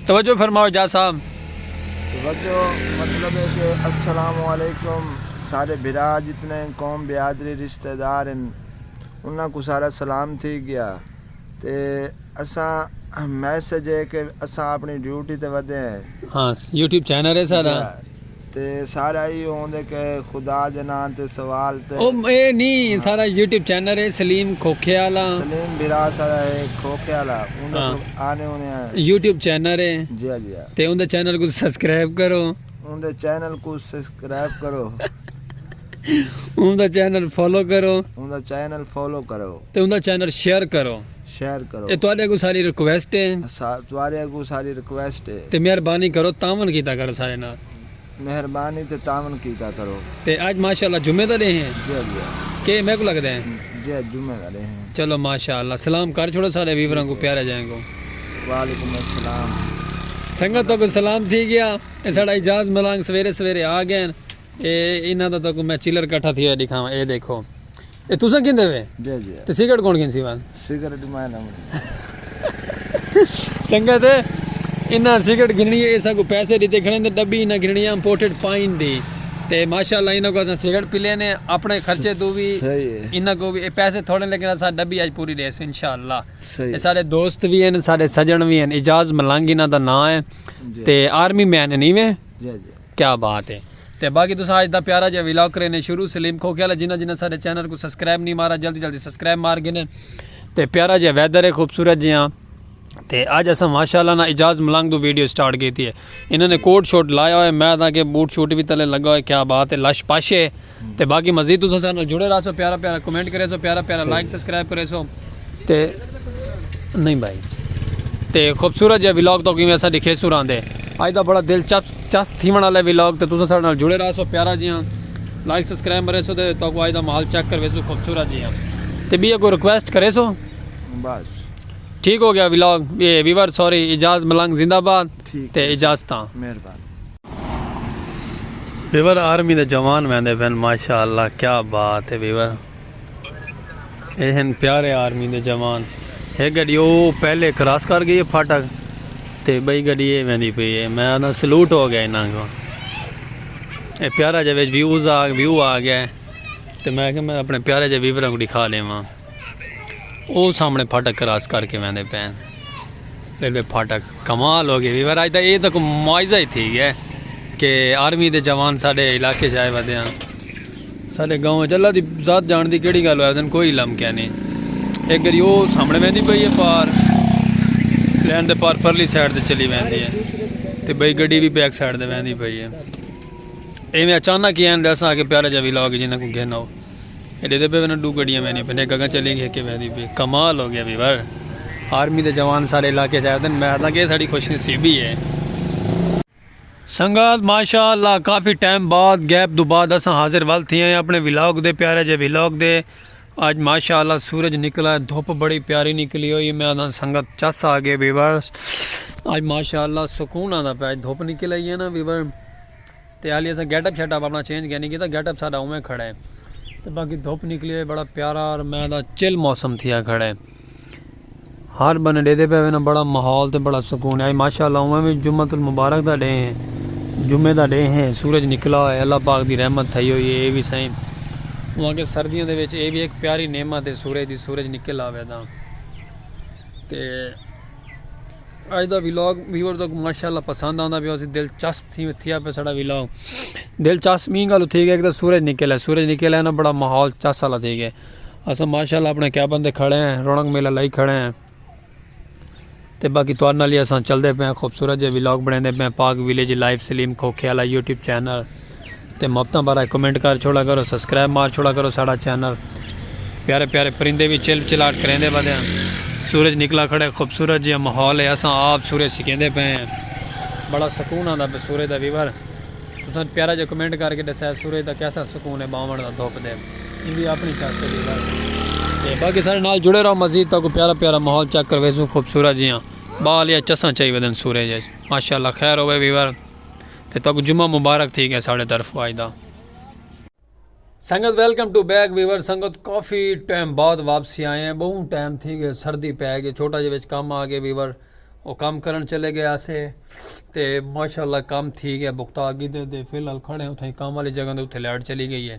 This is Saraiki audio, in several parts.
توجہ فرماؤ جا صاحب توجہ مطلب ہے کہ السلام علیکم سارے بھرا جتنے قوم بیادری رشتہ دار ہیں انہاں کو سارا سلام تھی گیا تے اساں میسج ہے کہ اساں اپنی ڈیوٹی تے ودے ہیں ہاں یوٹیوب چینل ہے سارا تے سارا ایہو ہوندے کہ خدا دے ناں تے سوال تے۔ او اے نی سارا یوٹیوب چینل اے سلیم کھوکھے آلا۔ سلیم بھرا سارا اے کھوکھے آلا اوندے کول آنے اونے آں۔ یوٹیوب چینل اے۔ جیا جیا۔ تے اوندے چینل کوں سسکرائب کرو۔ اوندے چینل کوں سسکرائب کرو۔ اوندے چینل فالو کرو۔ اوندے چینل فالو کرو۔ تے اوندے چینل شیئر کرو۔ شیئر کرو۔ اے تہاڈے اگوں ساڈی ریکویسٹ اے۔ اسا تہاڈے اگوں ساڈی ریکویسٹ اے۔ تے مہربانی کرو تعاون کیتا کرو سارے نال۔ مہربانی تے تعاون کیتا کرو۔ تے اج ماشاء اللہ جمعے دا ڈینھ اے۔ جی جی۔ کے اے میکوں لگدے اے۔ جی اج جمعے دا ڈینھ اے۔ چلو ماشاء اللہ سلام کر چھوڑو سارے ویوراں کوں پیارے جیاں کوں۔ وعلیکم السلام۔ سنگت تہاکوں سلام تھی گیا۔ اے ساڈا اعجاز ملانگ سویرے سویرے آ گئے ہن۔ اے انہاں دا تہاکوں میں چلر کٹھا تھیا ہویا ڈکھاواں۔ اے دیکھو۔ اے تساں گھندے وے؟ جی جی تے سگریٹ کون گھنسی وان؟ سگریٹ میں نہ منی سنگت ہے انہاں سگریٹ گھننی ہے اساں کو پیسے دیتے کھڑے تے ڈبی انہاں گھننی ہے امپورٹڈ پائن دی تے ماشاءاللہ انہاں کو اساں سگریٹ پی لینے اپنے خرچے تو بھی انہاں کو بھی اے پیسے تھوڑے لیکن اساں ڈبی اج پوری دیس انشاءاللہ اے سارے دوست بھی ہیں سارے سجن بھی ہیں اجاز ملنگ انہاں دا نام ہے تے آرمی مین ہیں نہیں میں جی جی کیا بات ہے تے باقی تساں اج دا پیارا جیہا ولاگ کرینے شروع سلیم کھوکھے والا جنہاں جنہاں ساڈے چینل کو سبسکرائب نہیں مارا جلدی جلدی سبسکرائب مار گھنے تے پیارا جیہا ویدر ہے خوبصورت جیہاں تے اج اساں ماشاءاللہ نا اجاز ملنگ دو ویڈیو سٹارٹ کیتی ہے انہاں نے کوٹ شوٹ لایا ہوئے میں دا کہ بوٹ شوٹ بھی تلے لگا ہوئے کیا بات ہے لش پش ہے تے باقی مزید تساں سارے نال جڑے رہسو پیارا پیارا کمنٹ کرے سو پیارا پیارا لائک سبسکرائب کرے سو تے نہیں بھائی تے خوبصورت جے ولاگ تو کیویں اسا دکھے سو راندے اج دا بڑا دل چپ چس تھیون والے ولاگ تے تساں سارے نال جڑے رہسو پیارا جیاں لائک سبسکرائب مرے سو تے تو کو اج دا مال چیک کروے سو خوبصورت جیاں تے بیے کو ریکویسٹ کرے سو بس ٹھیک ہو گیا ولاگ یہ ویور سوری اجاز ملنگ زندہ باد تے اجازتاں مہربانی ویور آرمی دے جوان ویندے پین ماشاءاللہ کیا بات ہے ویور اے ہن پیارے آرمی دے جوان ہے گڑی او پہلے کراس کر گئی ہے پھاٹک تے بھئی گڑی اے ویندی پئی ہے میں انہاں سلوٹ ہو گیا انہاں کو اے پیارا جے وچ ویوز آ ویو آ گیا ہے تے میں کہ میں اپنے پیارے جے ویوراں کو دکھا لیواں او سامنے پھاٹک کراس کر کے ویندے پین ریلوے پھاٹک کمال ہو گئے ویور آج دا اے تک معاوضہ ہی تھی گیا کہ آرمی دے جوان ساڈے علاقے جائے ودے ہیں ساڈے گاؤں چلا دی ذات جان دی کیڑی گل ہوئے دن کوئی علم کیا نہیں ایک گری او سامنے ویندی پئی ہے پار لین دے پار پرلی سائیڈ تے چلی ویندی ہے تے بھئی گڈی بھی بیک سائیڈ تے ویندی پئی ہے ایویں اچانک ہی ہیں دساں کہ پیارے جا ویلاگ جنہاں کو گھنو ایڈے دے پے وینا ڈو گڈیاں ویندی پین ہک اگاں چلی گی ہک ویندی پی کمال ہو گیا بی ور آرمی دے جوان سارے علاقے چ آدن میں آداں کہ ساڈی خوش نصیبی ہے سنگت ماشاءاللہ کافی ٹائم بعد گیپ دو بعد اساں حاضر ول تھیے ہیں اپنے ولاگ دے پیارے جے ولاگ دے اج ماشاءاللہ سورج نکلا ہے دھوپ بڑی پیاری نکلی ہوئی میں آداں سنگت چس آ گئے ویورز اج ماشاءاللہ سکون آندا پیا دھوپ نکل آئی ہے نا ویور تے حالی اساں گیٹ اپ شیٹ اپ اپنا چینج کینی کیتا گیٹ اپ ساڈا اوویں کھڑا ہے تے باقی دھوپ نکلی ہوئی بڑا پیارا اور میں دا چل موسم تھیا کھڑا ہے ہر بنے ڈے دے پہ وینا بڑا ماحول تے بڑا سکون ہے ماشاءاللہ اوویں وی جمعہ المبارک دا ڈے ہیں جمعے دا ڈے ہیں سورج نکلا ہوئے اللہ پاک دی رحمت تھئی ہوئی ہے اے وی سائیں وہاں کے سردیوں دے وچ اے وی ایک پیاری نعمت ہے سورج دی سورج نکل آوے دا تے اج دا ولاگ ویور تک ماشاءاللہ پسند آندا پیا سی دلچسپ تھی تھیا پیا ساڈا ولاگ دلچسپ می گل تھی گیا کہ سورج نکلا سورج نکلا ہے نا بڑا ماحول چس والا تھی گیا اسا ماشاءاللہ اپنے کیا بندے کھڑے ہیں رونق میلہ لائی کھڑے ہیں تے باقی تو نال اسا چلدے پے خوبصورت جے ولاگ بنیندے پے پاک ویلیج لائف سلیم کھوکھے والا یوٹیوب چینل تے محبتاں بارہ کمنٹ کر چھوڑا کرو سبسکرائب مار چھوڑا کرو ساڑا چینل پیارے پیارے پرندے بھی چل چلاٹ کریندے بدے ہیں سورج نکلا کھڑے خوبصورت جی ماحول ہے اساں آپ سورج سکیندے پے ہیں بڑا سکون آندا پہ سورج دا ویور تساں پیارا جو کمنٹ کر کے دسیا سورج دا کیسا سکون ہے باون دا دھوپ دے ان بھی اپنی چاہتے ہیں باقی سارے نال جڑے رہو مزید تاکو پیارا پیارا ماحول چیک کرویزو خوبصورت جیاں بال یا چساں چاہی ودن سورج ماشاءاللہ خیر ہوئے ویور تے تہاکوں جمعہ مبارک تھی گئے ساڈے طرفوں اج دا۔ سنگت ویلکم ٹو بیک ویور سنگت کافی ٹائم بعد واپسی آئے ہیں بہوں ٹائم تھی گئے سردی پے گئے چھوٹا جے وچ کم آ گئے ویور او کم کرن چلے گئے آسے تے ماشاءاللہ کم تھی گئے بکتا گدے دے فی الحال کھڑے ہیں اتھے کم والی جگہ دے اتھے لائٹ چلی گئی ہے۔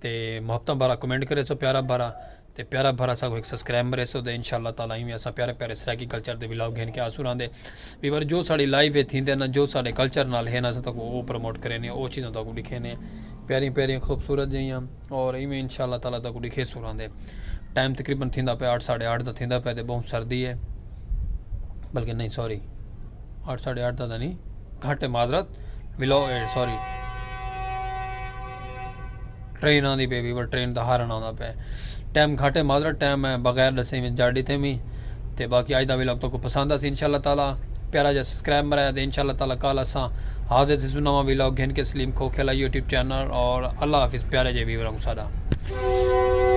تے محبتاں بھرا کمنٹ کرے سو پیارا بھرا تے پیارا بھرا سا کو ایک سبسکرائب مرے سو دے انشاءاللہ تعالی ایویں اسا پیارے پیارے سرائیکی کلچر دے ولاگ گھن کے آسو راندے ویور جو ساڑی لائیو ہے تھیندے نا جو ساڑے کلچر نال ہے نا اسا تکو او پروموٹ کرے نے او چیزاں تکو دکھے نے پیاری پیاری خوبصورت جیاں اور ایویں انشاءاللہ تعالی تکو دکھے سو راندے ٹائم تقریبا تھیندا پے 8 8:30 دا تھیندا پے تے بہت سردی ہے بلکہ نہیں سوری آٹھ ساڑھے آٹھ دا تھا نہیں گھٹ معذرت بلو ایٹ سوری ٹرین آندی پہ ویور ٹرین دا ہارن آندا پہ ٹائم گھٹ ہے معذرت ٹائم ہے بغیر دسے میں جا ڈیتے میں تے باقی اج دا ویلوگ تو کو پسند آسی انشاءاللہ تعالی پیارا جا سبسکرائب مرایا تے انشاءاللہ تعالی کال اساں حاضر تھی سنا وا ویلوگ گھن کے سلیم کھو کھلا یوٹیوب چینل اور اللہ حافظ پیارے جے ویور ہم ساڈا